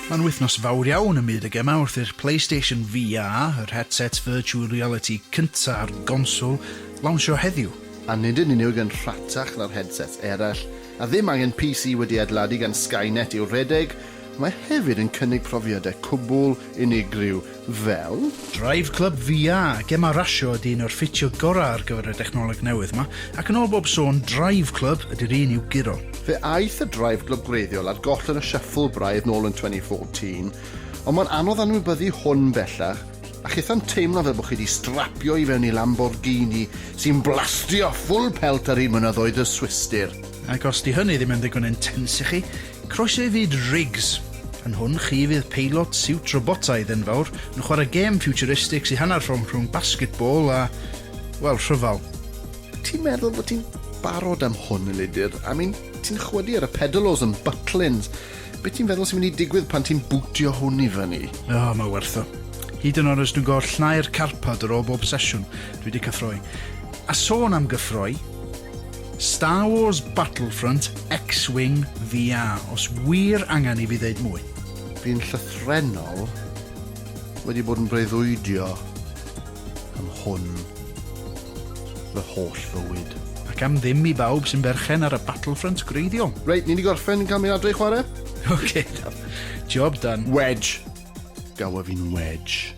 Mae'n wythnos fawr iawn ym myd y gemau wrth i'r PlayStation VR, yr headset virtual reality cyntaf a'r gonswl, lawnsio heddiw. A nid yn unig yn rhatach na'r headsets eraill, a ddim angen PC wedi adeiladu gan Skynet i'w rhedeg, mae hefyd yn cynnig profiadau cwbl unigryw fel. Drive Club VR, gem a rasio ydy un o'r ffitio gorau ar gyfer y dechnoleg newydd ma, ac yn ôl bob sôn, Drive Club ydy'r un i'w guro. Fe aeth y Drive Club gwreiddiol ar goll yn y shuffle braidd nôl yn 2014, ond mae'n anodd anwybyddu hwn bellach, a chithau'n teimlo fel bod chi 'di strapio i fewn i Lamborghini sy'n blastio ffwl pelt ar hyd mynyddoedd y Swistir. Ac os 'di hynny ddim yn ddigon intense i chi, Croeso i fyd Riggs! Yn hwn chi fydd peilot siwt robotaidd enfawr yn chwarae gêm futuristic sy'n hanner rhwng rhwng basketball a, wel, rhyfel. Ti'n meddwl fod ti'n barod am hwn, Elidir? I mean, ti'n chwydu ar y pedalos yn Butlins. Be ti'n feddwl sy'n mynd i digwydd pan ti'n bwtio hwn i fyny? O, oh, mae werth o. Hyd yn oed os dwi'n gorfod llnau'r carpad ar ôl bob sesiwn, dwi wedi cyffroi. A sôn am gyffroi, Star Wars Battlefront X-Wing VR, os wir angen i fi ddeud mwy. Bu'n llythrennol wedi bod yn breuddwydio am hwn fy holl fywyd. Ac am ddim i bawb sy'n berchen ar y Battlefront gwreiddiol. Reit, ni 'di gorffen yn cael mynd adre i chwarae? Ok, da. Job done. Wedge! Gawa fi'n wedge.